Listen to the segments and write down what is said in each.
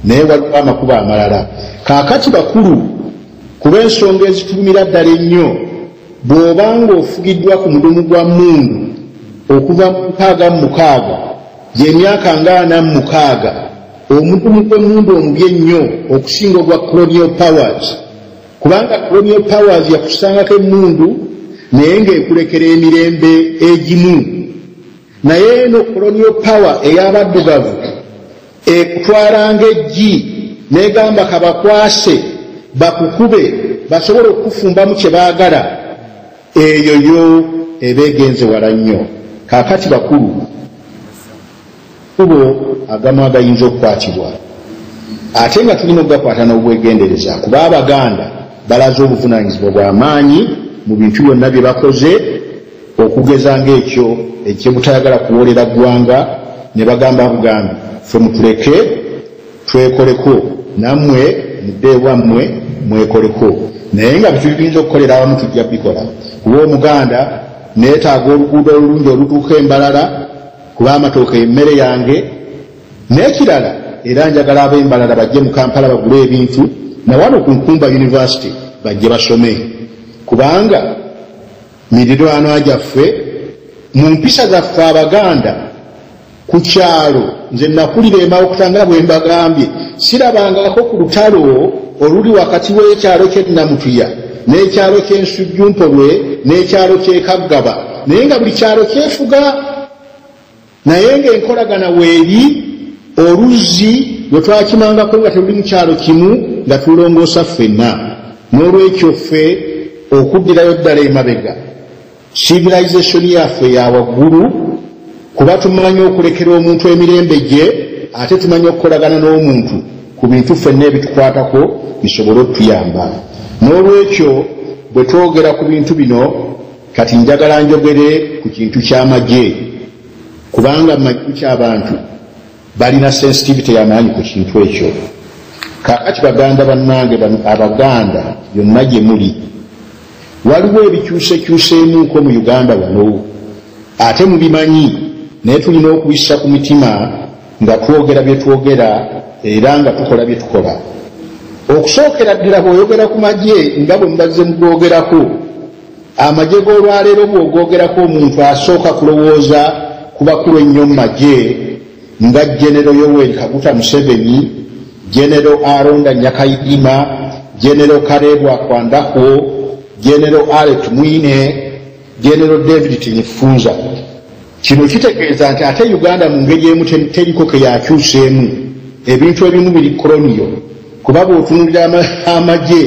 naye waliwo amakubo amalala kaakati bakulu kuba ensonga ezitulumira ddala ennyo bw'oba ng'ofugiddwa ku mudumu gwa mundu okuva mu mukaaga mu mukaaga gy'emyaka ngaana mu mukaaga omudumu gw'emundu omubi ennyo okusinga ogwa colonial powers kubanga colonial powers yakusangako emundu naye ng'ekulekera emirembe egimu Naye eno koloniyo pawa ey'abaddugavu ekutwala ng'eggi n'egamba kabakwase bakukube basobola okukufumbamu kye baagala, eyo yo eba egenze wala nnyo. Kaakati bakulu, kubo agamu agayinza okukwatibwa ate nga tulina okugakwata n'obwegendereza kuba Abaganda balaze obuvunaanyizibwa bwa maanyi mu bintu byonna bye bakoze. okugeza ng'ekyo ekyebutayagala kuwoolera ggwanga ne bagamba bugambi ffe mutuleke twekoleko nammwe mudde ewammwe mwekoleko naye nga bituli tuyinza okukolera awamu tujja bikola kuba omuganda neetaaga oluguudo olulungi olutuuka embalala kuba amatooka emmere yange n'ekirala era njagala ab'embalala bajje mu kampala bagule ebintu nawano ku nkumba yunivasite bajje basome kubanga mirirwanwa gyaffe mu mpisa zaffe abaganda ku kyalo nze nakulira emawukuta nga bwe mbagambye sirabangako ku lutalo oluli wakati w'ekyalo kyenamutuya n'ekyalo ky'ensujjumpolwe n'ekyalo ky'ekaggaba naye nga buli kyalo kyefuga naye ng'enkolagana weeri oluzzi lwe twakimangako nga teruli mu kyalo kimu nga tulongoosa ffenna n'olwekyo ffe okuddirayo ddala emabega sivilisationi yaffe ya waggulu kuba tumanyi okulekera omuntu emirembe gye ate tumanyi okukolagana n'omuntu ku bintu ffenna ebitukwatako bisobole okutuyamba n'olwekyo bwe twogera ku bintu bino Kati njagala njogere ku kintu ky'amagye kubanga mu majju ky'abantu balina sensitivity y'amaanyi ku kintu ekyo. Kaakati baganda bannange bano Abaganda yonna gye muli, waliwo ebikyusekyuseemuuko mu Uganda wano ate mubimanyi naye tulina okubissa ku mitima nga twogera bye twogera era nga tukola bye tukola. Okusookera ddala bw'oyogera ku magye nga bwe mubazze mugoogerako, amagye g'olwaleero bw'ogoogerako omuntu asooka kulowooza ku bakulu ennyo mu magye nga genero yoweri kaguta museveni genero aronda nyakayidima genero karebwa kwandahwo genero alet mwine genero david tinifunza Kino kitegeeza nti ate Uganda mu ngeri emu teriko ke yakyuseemu, ebintu ebimu biri koloniyo kuba bw'otunuulira amagye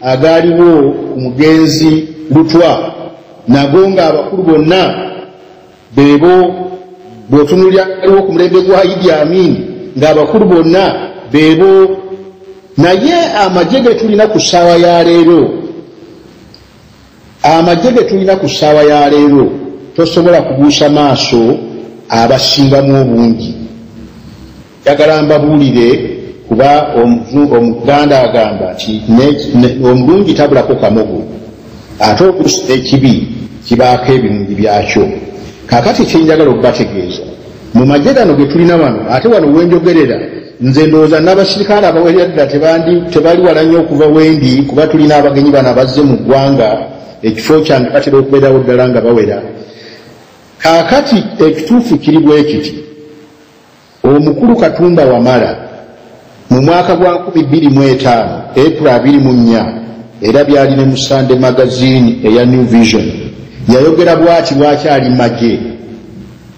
agaaliwo ku mugenzi Lutwa nago ng'abakulu bonna beebo, bw'otunuulira agaliwo ku mulembe gwa Idi Amin ng'abakulu bonna beebo, naye amagye ge tulina ku ssaawa ya leero, Amagye ge tulina ku ssaawa ya leero tosobola kubuusa maaso abasingamu obungi. Njagala mbabuulire kuba Omuganda agamba nti omulungi tabulako kamogo ate oluusi n'ekibi kibaako ebirungi byakyo. Kaakati kye njagala okubategeeza Mu magye gano ge tulina wano, ate wano we njogerera, nze ndowooza n'abasirikale abawerera ddala tebandi, tebali wala nnyo okuva wendi, kuba tulina abagenyi bano abazze mu ggwanga, ekifo kyange batera okubeerawo ddala nga bawera. Kaakati ekituufu kiri bwe kiti, Omukulu Katumba Wamala, mu mwaka gwa nkumi bbiri mu etaano, April abiri mu nnya, era byali ne mu Sunday Magazine eya New Vision, yayogera bw'ati lwaki ali magye.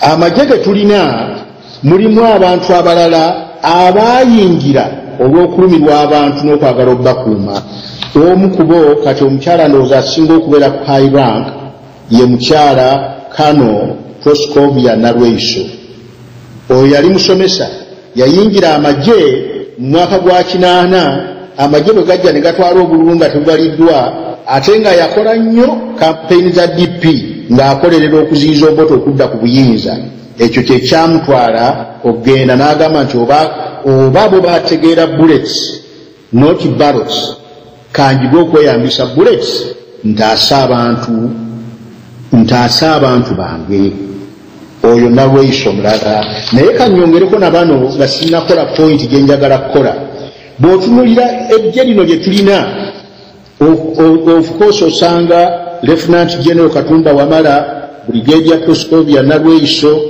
amagye ge tulina mulimu abantu abalala abaayingira olw'okulumirwa abantu n'okwagala okubakuuma omu kubo kati omukyala ndowooza asinga okubeera ku high rank ye mukyala kano proscovia nalweiso oyo yali musomesa Yayingira amagye mu mwaka gwa kinaana amagye bwe gajja ne gatwala obululu nga tebubaliddwa ate nga yakola nnyo kampeyini za DP ng'akolerera okuziyiza Obote okudda ku buyinza. Ekyo kye kyamutwala okugenda n'agamba nti oba oba bo bategeera Bullets not barrels kanjige okweyambisa bullets ntaase abantu ntaase abantu bange oyo nalweyisa omulala naye kanyongereko na bano nga sinakola pointi gyenjagala kukola bw'otunulira ejje lino lye tulina of course osanga lieutenant general katumba wamala brigadier proscovia nalweiso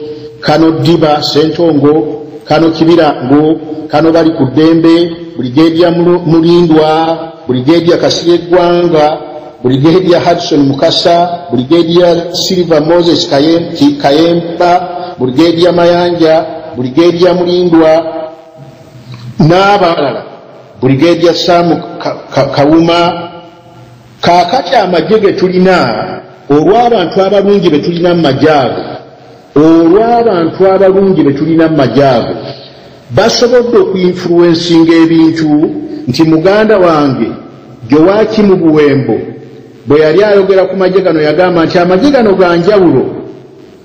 kano diba sentongo kano kibirango kano bali ku ddembe brigadier mulindwa brigadier kasire gwanga brigadier hudson mukasa brigadier silver moses kayemba brigadier mayanja brigadier mulindwa n'abalala buligedia sam kawuma kaakati amagye ge tulina olw'abantu abalungi be tulina mu magye ago olw'abantu abalungi be tulina mu magye ago basobodde okuinfuluwensinga ebintu nti muganda wange gyowaki mu buwembo bwe yali ayogera ku magye gano yagamba nti amagye gano ga njawulo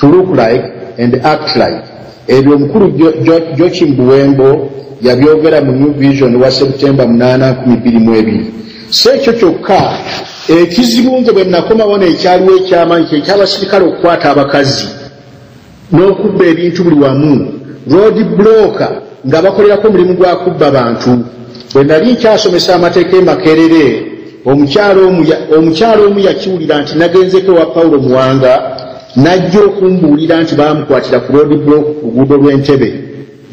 to look like and act like ebyo omukulu jochim buwembo yabyogera mu new vision wa september 822 si ekyo kyokka ekizibu nze bwe nakomawo neekyaliwo ekyamanyi kyekyabasirikale okukwata abakazi n'okubba ebintu buli wamu road bloka nga bakolerako omulimu gwa kubba bantu bwe nali nkyasomesa amateeka emakerere Omukyala omu yakiwulira nti nagenzeeko ewa Paulo Muwanga n'ajja okumbuulira nti baamukwatira ku Road Block ku luguudo lw'Entebe.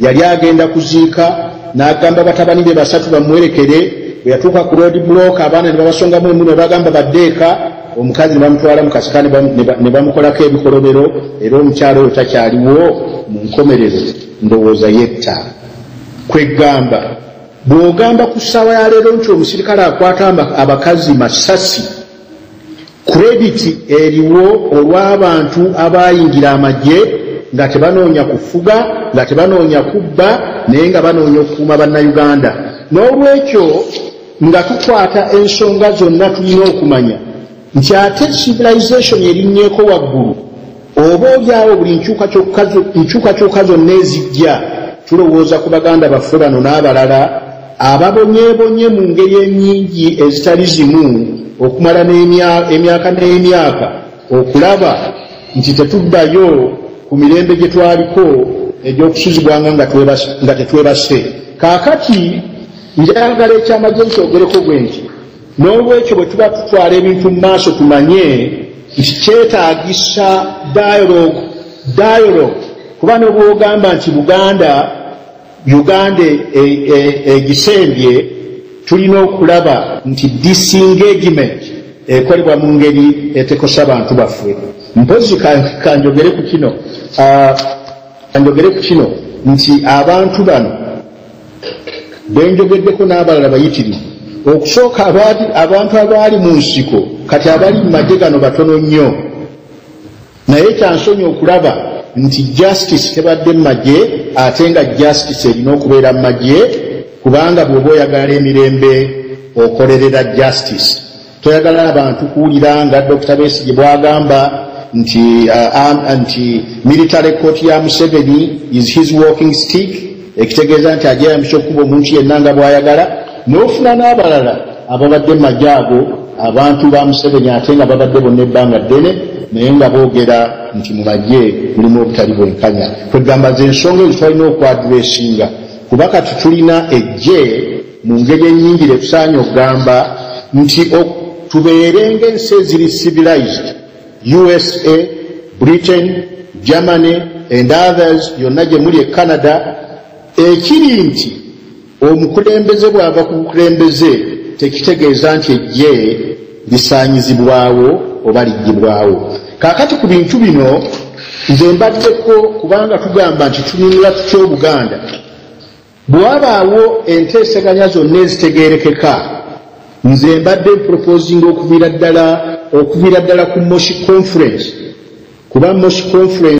Yali agenda kuziika n'agamba batabani be basatu bamuwerekere. Bwe yatuuka ku Road Block abaana ne babasongamu emu ne bagamba badde eka, omukazi ne bamutwala mu kasika ne bamukolako ebikolobero era omukyala oyo takyaliwo mu nkomerero ndowooza yetta. Kweggamba. bw'ogamba ku ssaawa ya leero nti omusirikale akwata abakazi masasi kurediti eriwo olw'abantu abaayingira amagye nga tebanoonya kufuga nga tebanoonya kubba naye nga banoonya okukuuma bannayuganda n'olwekyo nga tukwata ensonga zonna tulina okumanya nti ate civilization erinnyeko waggulu oba olyawo buli nkyukakyuka zonna ezijja tulowooza ku baganda baffe bano n'abalala ababonyebonye mu ngeri enyingi ezitali zimu okumala emyaka n'emyaka okulaba nti tetuddayo ku mirembe gye twaliko egy'okusuzibwanga nga tetwebase kaakati njagala ekyamagye nti ogereko bwe nti N'olwekyo bwe tuba tutwala ebintu mu maaso tumanye nti kyetaagisa dialogue dialogue kuba ne bwogamba nti Buganda Uganda egisembye e, e, e tulina okulaba nti disengagement ekolebwa mu ngeri etekosa bantu baffe mpozi kanjogere ku kino ah, kanjogere ku kino nti abantu bano benjogeddeko n'abalala bayitirivu okusooka abantu abaali mu nsiko kati abali mu magye gano batono nnyo naye kyansonyi okulaba nti justice tebadde mu magye ate nga justice erina okubeera mu magye kubanga bw'oba oyagala emirembe okolerera justice Toyagala abantu kuwulira nga Dokita Besigye bwagamba nti uh, nti military court ya Museveni is his walking stick ekitegeeza nti ajeyambisa okukuba omuntu yenna nga bwayagala n'ofuna n'abalala ababadde maje ago abantu ba Museveni ate nga babadde bonna ebbanga ddene naye nga boogera nti mu maje mulimu obutali bwenkanya kwegamba ze ensonga ezitwalina okwadula esinga kuba kati tulina ejje Mu ngeri enyingire tusaanye okugamba nti ok tubeere ng'ensi eziri civilized usa britain germany and others yonna gye muli e canada ekiri nti omukulembeze bw'ava ku bukulembeze tekitegeeza nti ejje lisaanyizibwawo oba liggibwawo kaakati ku bintu bino nze mbaddeko kubanga tugamba nti tununula tutya obuganda Bwe wabaawo enteeseganya zonna ezitegeerekeka, nze mbadde mproposinga okuviira ddala okuviira ddala ku Moshi Conference kuba Moshi Conference